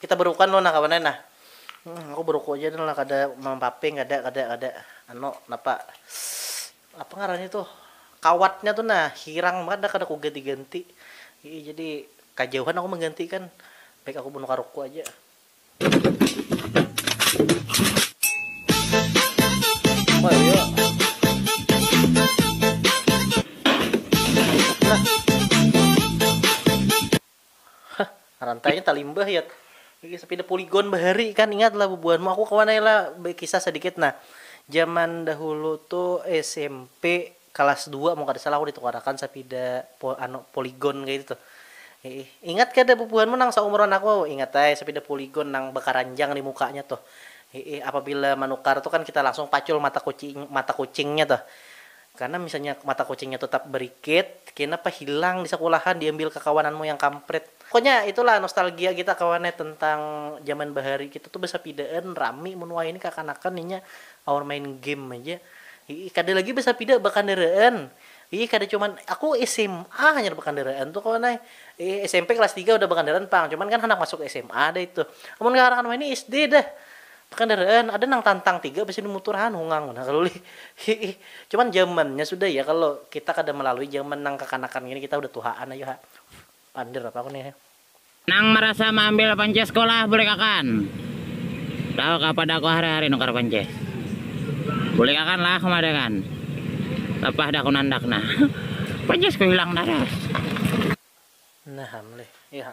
Kita berukan dulu nah kawan ai nah. Hum aku beruku ja dulu nah kada mampaping kada kada kada anu napa apa ngarannya tuh kawatnya tuh nah hirang banar dah kada ku ganti ganti ii jadi kajauhan aku mengganti kan baik aku bunuh karuku aja. Hah, rantainya talimbah yat. Bagi sapida puligon bahari kan ingat lah bubuhanmu. Aku kawan ai lah bakisah sadikit nah. Jaman dahulu tu smp kalas dua mun kada salah aku ditukarakan sapida anu poligon kaya itu tuh. Ingat kada bubuhanmu nang saumuran aku, ingat ai sapida puligon nang bakaranjang nih mukanya tuh. Apabila manukar tu kan kita langsung pacul mata kucing mata kucingnya tuh. Karna misalnya mata kucingnya tetap berikit, kenapa hilang di sekolahan diambil kekawananmu yang kamprit. Pokoknya itulah nostalgia kita kawan ne tentang zaman bahari kita tu besapidaan rami mun wayahini kakanakan inya aur main game aja. Hiih kada lagi besapida bekandaraan. Hiih kada cuman aku sma hanyar bekandaraan tu kawan ai. Hiih smp kelas tiga udah bekandaraan pang cuman kan handak masuk sma dah itu. Amun kakanakan wayahini sd dah. Kendaraan ada nang tantang tiga bisi di mutur han hungang banar kalo lih hiih cuman jamannya sudah ya kalo kita kada malalui jaman nang kakanakan gini kita udah tuhaan ayu ha pander apa aku nih. Nang marasa maambil panceh sekolah bulikakan lah kapada aku hari hari nukar panceh bulikakan lah kemadakan lapah dakun andak nah pancesku hilang tarus. Nah am lih iya ha.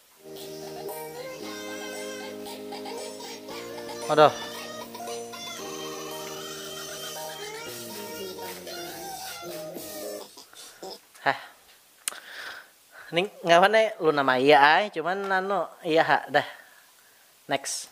Aduh. Heh. Ning ngawan luna maya ay, cuman anu iya ha dah. Next.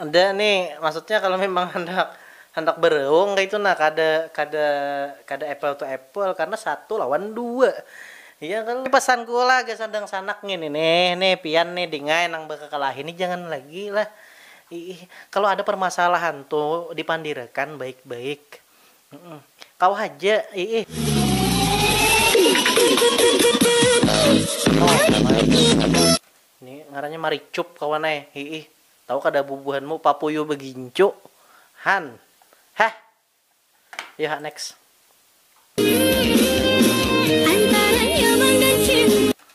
Ada nih, maksudnya kalau memang handak handak bereung kaitu nah kada kada kada apple to apple karena satu lawan dua iya kalo. Ini pesan ku lah gasan dangsanak ngini nih, nih pian nih dingai nang bakakalahi nih jangan lagi lah iih kalo ada permasalahan tu dipandirakan baik baik. Kau haja, iih. Ni ngarannya maricup kawan ai, iih. Tahu kada bubuhanmu papuyu begincu? Han. Heh. Yu ha next.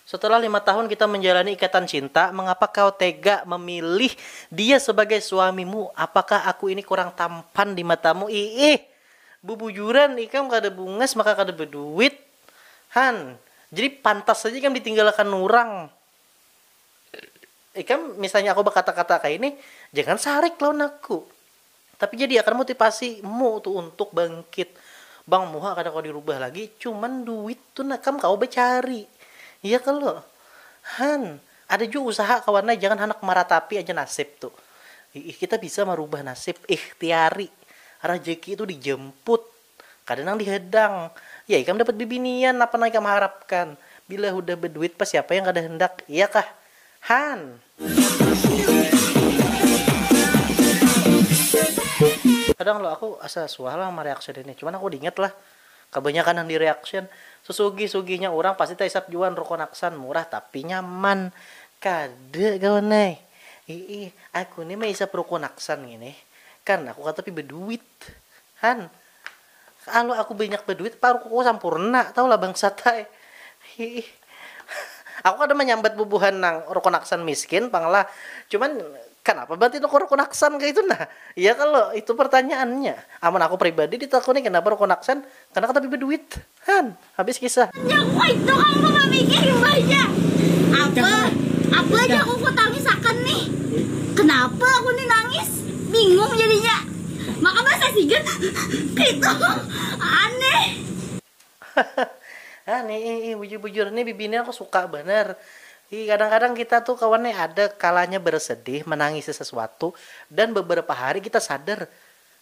Setelah lima tahun kita menjalani ikatan cinta, mengapa kau tega memilih dia sebagai suamimu? Apakah aku ini kurang tampan di matamu? Iih, bubujuran ikam kada bungas maka kada beduit, han. Jadi pantas haja ikam ditinggalakan urang. Ikam misalnya aku bakata-kata kaya ini, jangan sarik lawan aku. Tapi jadi akan motipasi mu tu untuk bangkit bang muha kada kawa dirubah lagi cuman duit tu nah kam kawa bacari ya kalo han ada jua usaha kawan ai jangan handak maratapi aja nasib tu iih kita bisa marubah nasib ikhtiari rajeki tu dijemput. Kada nang dihadang. Ya ikam dapat bibinian, napa nang ikam harapkan. Bila hudah baduit pa siapa yang kada handak, iya kah? Han! Kadang lo aku asa suah lah mareaction ini, cuman aku diingat lah, kabanyakan nang di reaction sesugih sugihnya urang pasti taisap jua nrokon aksan, murah tapi nyaman. Kada kawan ai. Hiih, aku ni maisap rokon aksan ngini, karna aku katapi baduit. Han, kalo aku banyak baduit paruh aku sampurna tahu lah bangsat ai. Hiih. Aku kada manyambat bubuhan nang rukun aksan miskin pang lah. Cuman, kanapa batin aku rukun aksan kaitu nah? Iya kalo? Itu pertanyaannya. Amun aku pribadi ditakuni kanapa rukun aksan, karena katapi baduit. Han. Habis kisah. Yang kaitu am ku mamikir imbahnya. Apa? Apa ja ku kutangis akan nih? Kenapa aku nih nangis? Bingung jadinya. Maka bahasa sigat kaitu aneh. Hahaha aneh ih ih bujur bujur nih bibinian aku suka banar. Ih kadang kadang kita tuh kawan nih ada kalanya bersedih menangisi sesuatu dan beberapa hari kita sadar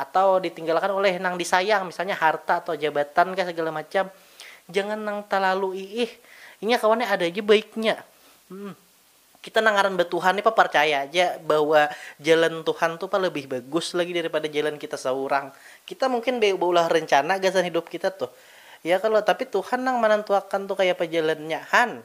atau ditinggalakan uleh nang disayang misalnya harta atau jabatan kah segala macam jangan nang talalu iih inya kawan nih ada ja baiknya kita nang ngaran batuhan nih paparcaya ja bahwa jalan tuhan tu pa lebih bagus lagi dari pada jalan kita saurang kita mungkin baulah rencana gasan hidup kita tuh ya kalo tapi tuhan nang manantuakan tu kayapa jalannya han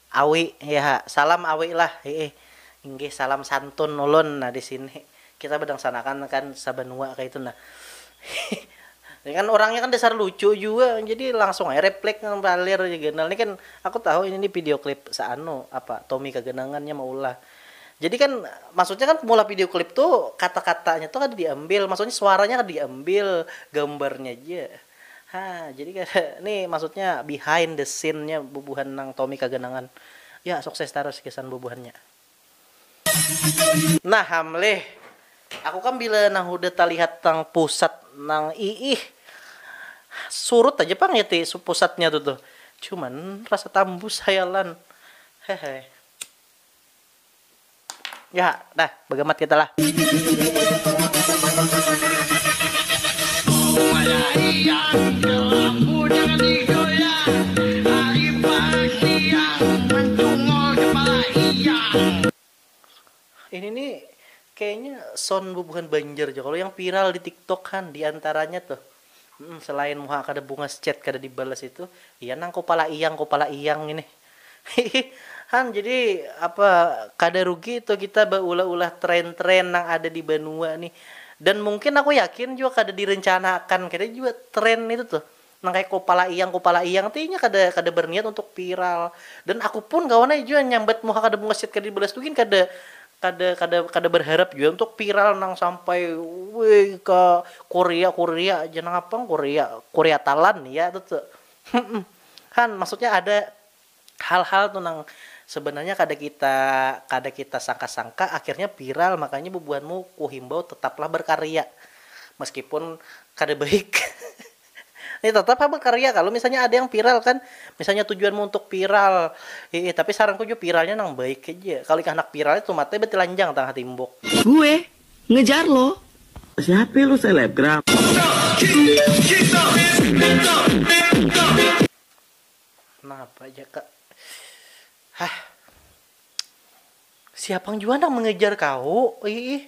Awi, Hiha, salam Awi lah, Hiih, inggih salam santun ulun nah di sini, kita badangsanakan kan sabanua kaitu nah, Hiih, ini kan urangnya kan dasar lucu jua jadi langsung aja replik nang balir aja ganal ni kan aku tahu ini ni video klip saanu apa Tommy Kaganangan nya maulah jadi kan maksudnya kan maulah video klip tu kata-katanya tu kada diambil maksudnya suaranya kada diambil gambarnya ja. Ha jadi kada ni maksudnya behind the scene nya bubuhan nang Tommy kaganangan ya sukses tarus gasan bubuhannya. Nah hamleh, aku kam bila nang hudah talihat nang pusat nang iih surut haja pang ya ti pusatnya tu tuh cuman rasa tambus hayalan hehe. Ya, dah bagamat kita lah. Ini nih kayaknya sound bubuhan Banjar ja kalo yang viral di tiktok han diantaranya tuh. Humm selain muha kada bungas chat kada dibalas itu iya nang kupala iyang kupala iyang ini hihi han jadi apa kada rugi itu kita baulah ulah trend trend nang ada di banua nih dan mungkin aku yakin jua kada direncana akan kada jua trend itu tuh nang kaya kupala iyang kupala iyang tuh inya kada kada berniat untuk viral dan aku pun kawan ai jua nyambat muha kada bungas chat kada dibalas tuh gin kada Kada kada kada barharap jua untuk viral nang sampai wih ka Korea Korea ja nang apang Korea Korea Talan ya tu tu humm han maksudnya ada hal hal tu nang sebenarnya kada kita kada kita sangka sangka akhirnya viral makanya bubuhanmu kuhimbau tetaplah barkarya meskipun kada baik. Nih tetap ha bekarya kalu misalnya ada yang viral kan, misalnya tujuanmu untuk viral, hiih tapi saranku jua viralnya nang baik haja, kalu ikam handak viral nih tumatnya batilanjang tang hatimbuk. Gue ngejar lo. Siape lu selebgram. Napa jaka hah siapang jua nang mengejar kahu hiih.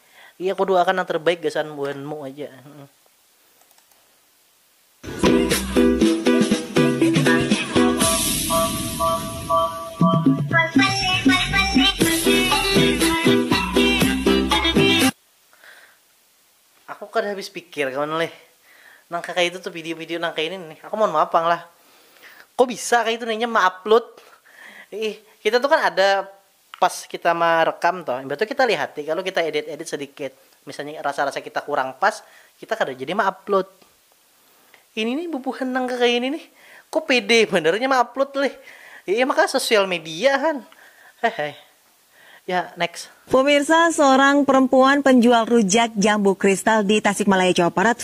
Iya ku duakan nang terbaik gasan buhan mu aja. Aku kada habis pikir kawan leh nang kaya itu tuh video video nang kaya ini nih aku mohon maaf pang lah kok bisa kaya itu nih inya ma upload ih kita tuh kan ada Pas kita ma rekam tuh, imbah tuh kita lihati kalu kita edit edit sedikit, misalnya rasa rasa kita kurang pas, kita kada jadi ma upload. Ini nih bubuhan nang kaya ini nih, kok pede banar inya ma upload lih, iya mah kah sosial media han, hehe. Ya next. Pumirsa, seorang perempuan penjual rujak jambu kristal di Tasikmalaya, Jawa Barat,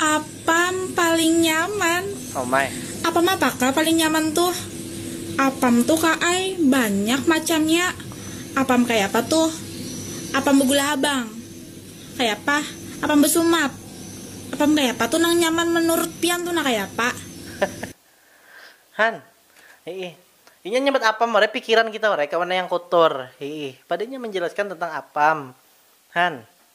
Apam paling nyaman. Apam apa ka paling nyaman tuh? Apam tuh ka ai banyak macamnya. Apam kayapa tuh? Apam begula habang. Kayapa? Apam besumat. Apam kayapa tuh nang nyaman menurut pian tuh nah kayapa? Han, hiih. Inya nyambat apam warai pikiran kita warai kawan nayang kotor. Hiih. Padanya menjelaskan tentang apam. Han.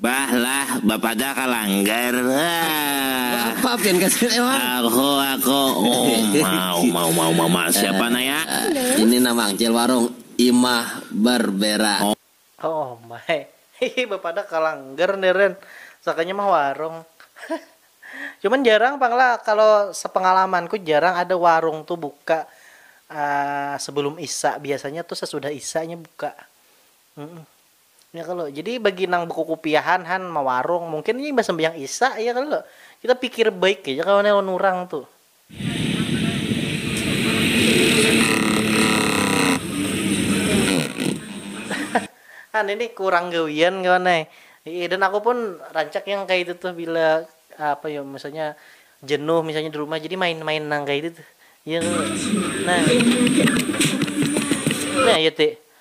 Bah lah, bapadah ka langgar. Apa pian ka sini Mang? Aku, aku. Uma, uma, uma, uma, uma. Siapa nah ya? Ini nah Mang, cil warung Imah Barbera. Uma, hihi, bapadah ka langgar ni Ren. Sakanya mah warung. Cuman jarang pang lah, kalo sepengalamanku jarang ada warung tu buka sebelum isya, biasanya tu sesudah isyanya buka. Ya kalo, jadi bagi nang bakukupiahan han mawarung, mungkin inya imbah sambahyang isya ya kalo, kita pikir baik haja kawan ya lawan urang tu. Han ini kurang gawian kawan ai, iih dan aku pun rancak yang kaya itu tuh bila apa yo misalnya jenuh misalnya di rumah jadi main-main nang kaya itu tuh ya kalo, nah, nah ya ti.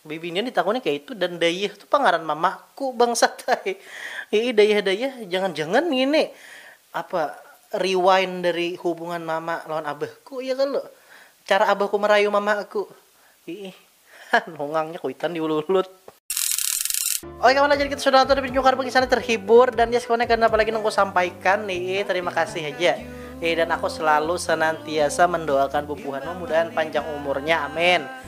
Bibinian ditakuni kaitu dan Dayah tu pangaran mamaku bangsat ai. Iih Dayah Dayah jangan jangan ngini apa rewind dari hubungan mama lawan abahku ya kalo. Cara abahku marayu mamaku. Iih ha nungangnya kuitan diululut. Oke kawan ajar kita sudah nonton dan pinyukar bekisan ni terhibur dan yes kawan kada napa lagi nang ku sampaikan iih terima kasih haja. Iih dan aku selalu senantiasa mendoakan bubuhan mudahan panjang umurnya amin.